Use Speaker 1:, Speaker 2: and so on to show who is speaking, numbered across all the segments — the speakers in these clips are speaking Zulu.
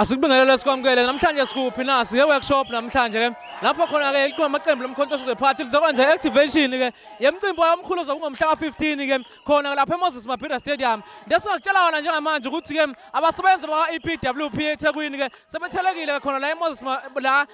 Speaker 1: Asikubingelele sikwamukele namhlanje sikuphi na siye workshop namhlanje ke lapho khona ke likhona amaqembu lomkhontoso zephathi lizokwenza activation ke yemcimbi omkhulu zokungomhla ka15 ke khona lapha eMoses Mabhida Stadium ndesingakutshala wona njengamanje ukuthi ke abasebenzi bakwa EPWP eThekwini ke sebethelekile khona la eMoses la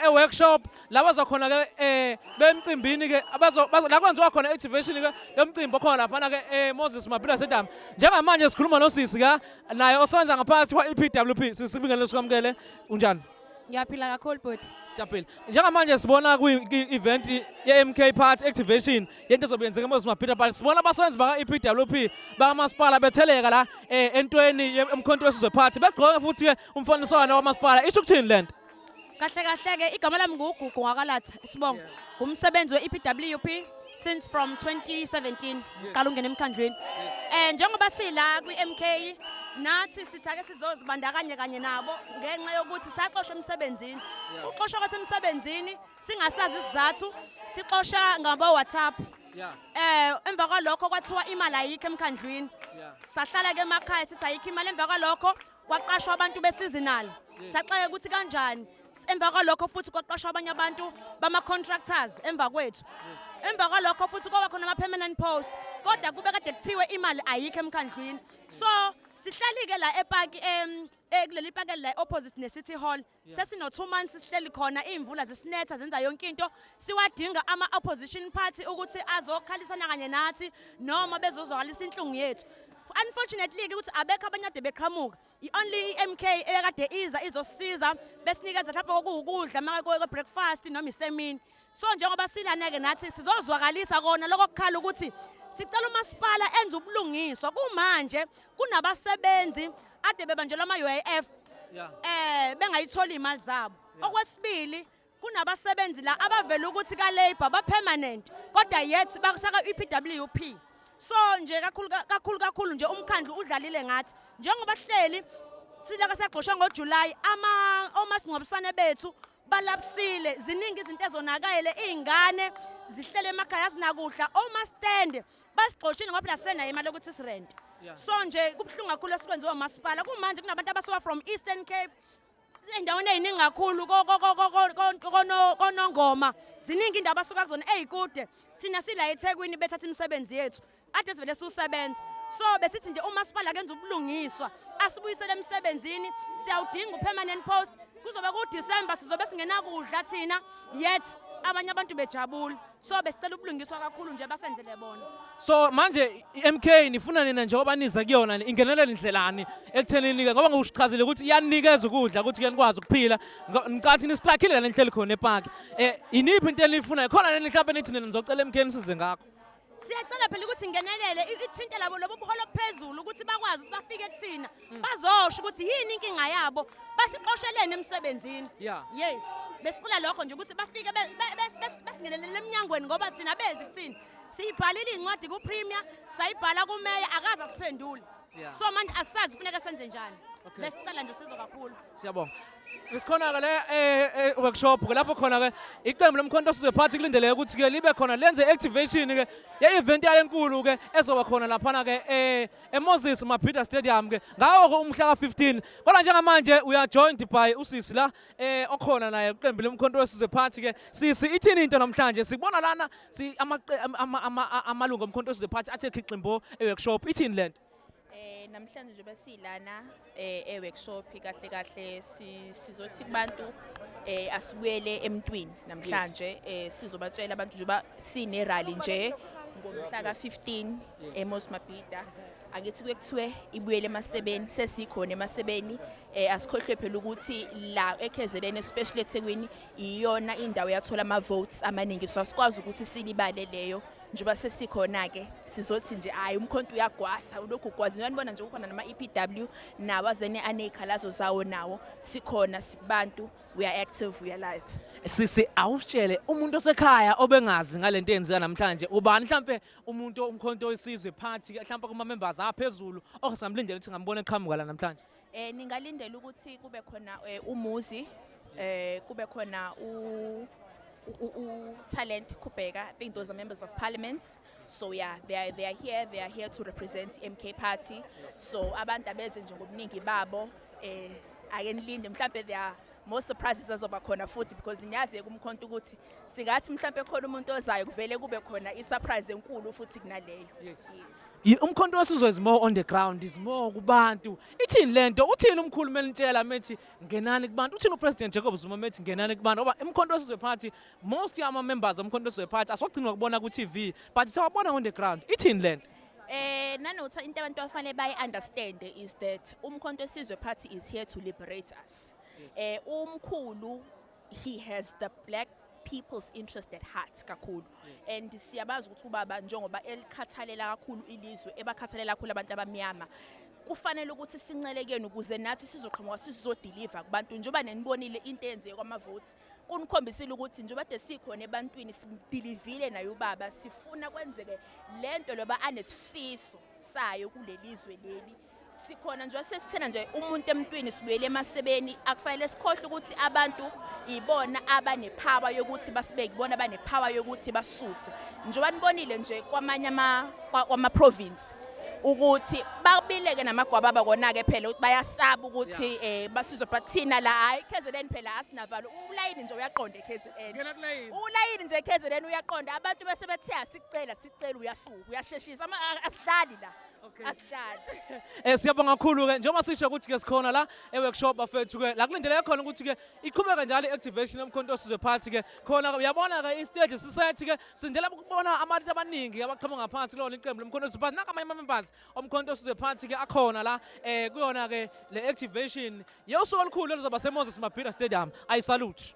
Speaker 1: e-workshop e, e la bazokhona ke eh bemcimbini ke abazo la kwenziwa khona activation ke yomcimbi okhona laphana ke eh Moses Mabhila Sedam njengamanje sikhuluma nosisi ka naye osebenza ngaphakathi kwa EPWP sisibingelele sikwamukele unjani Ngiyaphila kakhulu
Speaker 2: bhuti. Siyaphila. Njengamanje
Speaker 1: sibona kwi-event ye-MK Party Activation yento ezobe yenzeka eMoses Mabhida Party. Sibona abasebenzi baka-EPWP bakamasipala betheleka la eh, entweni emkhonto wesizwe party. Begqoke futhi-ke umfaniswano wamasipala. Isho ukuthini le nto? kahle kahle
Speaker 2: ke igama lami ngugugu ngakalatha isibongo ngumsebenzi we-epwp since from 2017 qala ungena emkhandlwini um njengoba sila kwi-m k nathi sithake sizozibandakanye kanye nabo ngenxa yokuthi saxoshwa emsebenzini uxoshwa kwethu emsebenzini singasazi isizathu sixosha ngabo-whatsapp Yeah. Eh emva kwalokho kwathiwa imali ayikho emkhandlwini. Yeah. Sahlala ke emakhaya sithi ayikho imali emva kwalokho kwaqashwa abantu beseasonal saxeke ukuthi kanjani emva kwalokho futhi kwaqashwa abanye abantu bama-contractors emva kwethu emva kwalokho futhi kwaba khona ama-permanent post kodwa kube kade kuthiwe imali ayikho emkhandlwini so sihlali-ke la epaki um, eh, kuleli paki la opposite ne-city hall sesino two months sihleli khona iy'mvula zisinetha zenza yonke into siwadinga ama-opposition party ukuthi azokhalisana kanye nathi noma bezozwakalisa inhlungu yethu unfortunately ukuthi abekho abanye ade beqhamuka i-only i-mk eyakade iza izosiza besinikeza mhlawumbe okuwukudla uma kwe-breakfast noma isemini so njengoba silaneke nathi sizozwakalisa kona lokho kukhala ukuthi sicela umasipala enze ubulungiswa kumanje kunabasebenzi ade bebanjelwa ama-uif yeah. eh bengayitholi imali zabo yeah. okwesibili kunabasebenzi la abavela ukuthi ka-labour ba-permanent kodwa yet bakusaka i-pwp so nje kakhulu kakhulu kakhulu nje umkhandlu udlalile ngathi njengoba sihleli silaka sagxoshwa ngojulayi ama omasingcwabisane bethu balaphisile ziningi izinto ezonakele iy'ngane zihlele emakhaya zinakudla omastende basigxoshile ngoba phela sisenayo imali yokuthi sirente so nje kubuhlungu kakhulu esikwenziwa umasipala kumanje kunabantu abasuka from eastern cape endaweni eyiningi kakhulu konongoma ziningi indawo abasuka kuzona eyikude thina sila ethekwini bethatha imisebenzi yethu kade sivele siwusebenza so besithi nje umasipala kenza ubulungiswa asibuyisele emsebenzini siyawudinga upermanent post kuzobe kuDecember sizobe singenakudla thina yet abanye abantu bejabula so besicela ubulungiswa kakhulu nje basenzele bona so manje
Speaker 1: iMK nifuna nina njengoba niza kuyona ingenelele indlelani ekuthenini ke ngoba ngikuchazile ukuthi iyanikeza ukudla ukuthi ke nikwazi ukuphila ngicathi nisiqakhile lenhlelo khona epark eh iniphi into enifuna khona nini mhlawumbe nithi nina nizocela iMK nisize ngakho siyacela phela
Speaker 2: ukuthi ngenelele ithinte labo lobo buholo phezulu ukuthi bakwazi ukuthi bafike kuthina mm. bazosho ukuthi yini inkinga yabo basixoshelene emsebenzini yeah. yes besicela lokho nje ukuthi bafike besingenelele emnyangweni ngoba thina bezi kuthina siyibhalile incwadi kupremier sayibhala kumeya akaze asiphendule Yeah. so manje asazi funeka senze njani Okay. besicela
Speaker 1: nje usizo kakhulu siyabonga isikhona ke le eh, eh, workshop ke lapho khona ke iqembu lomkhonto sizwe party kulindeleke ukuthi ke libe khona lenze activation ke ye event yale enkulu ke ezoba khona laphana ke eh eMoses Mabhida Stadium ke ngawo ke umhla ka15 kodwa njengamanje we are joined by usisi la eh okhona naye iqembu lomkhonto sizwe party ke sisi ithini into namhlanje sibona lana si amalungu omkhonto size phathi athe khiximbo eworkshop ithini lento Eh namhlanje
Speaker 3: nje besilana eh eworkshop kahle kahle sizothi kubantu eh asibuyele emntwini namhlanje eh sizobatshela abantu nje ba sine rally nje ngomhla ka-15 eMos Mabhida angithi kuye kuthiwe ibuyele emasebeni sesikhona emasebeni eh asikhohlwe phela ukuthi la eKZN especially eThekwini iyona indawo yathola ama-votes amaningi so asikwazi ukuthi silibale leyo njengoba sesikhona-ke sizothi nje hhayi umkhonto uyagwasa ulokhu ugwaza njengoba nibona nje kukhona nama-e p w nawo azene aney'khalazo zawo nawo sikhona sibantu we are active we are live sisi awusitshele
Speaker 1: umuntu osekhaya obengazi ngale nto eyenzeka namhlanje ubani mhlampe umuntu umkhonto oyisizwe phathi mhlampe kuma-members aphezulu osamlindele ukuthi ngambona eqhamuka la namhlanje Eh ningalindela
Speaker 3: ukuthi kube khona eh, umuzi eh kube khona u talent Kubeka, I think those are members of parliaments. So yeah, they are, they are here, they are here to represent MK party. So abantu abeze nje ngobuningi babo eh ake nilinde mhlambe they are more surprises azoba khona futhi because ngiyazi kumkhonto ukuthi singathi mhlawumbe khona umuntu ozayo kuvele kube khona i-surprise enkulu futhi kunaleyo yes.
Speaker 1: yes. umkhonto wasizwe is more on the ground is more kubantu ithini le nto uthini umkhulu melintshela methi ngenani kubantu uthini upresident jacob zuma methi ngenani kubantu ngoba umkhonto wasizwe party most yama-members omkhonto wasizwe party asogcinwa kubona ku-tv but sawabona on the ground ithini le nto Eh nanothi
Speaker 3: into abantu afanele bayi understand is that umkhonto sizwe party is here to liberate us. heart yes. eh umkhulu he has the black people's interest at heart kakhulu yes. and siyabazi ukuthi ubaba njengoba elikhathalela kakhulu ilizwe ebakhathalela kakhulu abantu abamnyama kufanele ukuthi sincelekeni ukuze nathi sizoqhamuka sizodeliver kubantu njengoba nenibonile into eyenzeke kwamavote kunikhombisile ukuthi njengoba de sikhona ebantwini sidilivile naye ubaba sifuna kwenzeke lento loba anesifiso sayo kulelizwe leli sikhona nje sesithena nje umuntu emntwini sibuyele emasebeni akufanele sikhohle ukuthi abantu ibona abanepower yokuthi basibeke ibona abanepower yokuthi basuse njengoba nibonile nje kwamanye ama kwama province ukuthi babileke namagwaba bakona-ke phela ukuthi bayasaba ukuthi um eh, basizwe but thina la hhayi kzn phela asinavalo ulayini nje uyaqonda ekzn ulayini nje ekzn uyaqonda abantu bese bethe asicela sicela uyasuka uyasheshisa asidlali la asihlale Eh siyabonga
Speaker 1: kakhulu ke njengoba sisho ukuthi ke sikhona la eworkshop bafethu ke la kulindeleke khona ukuthi ke iqhubeke njalo i-activation yomkhonto osizwe phansi ke khona ke uyabona ke i-stage sisethi ke sindela ukubona abantu abaningi abaqhamuka ngaphansi kulona iqembu lomkhonto osizwe phansi nakamanye ama-members omkhonto osizwe phansi ke akhona la eh kuyona ke le activation yosuku olukhulu oluzoba seMoses Mabhida Stadium i salute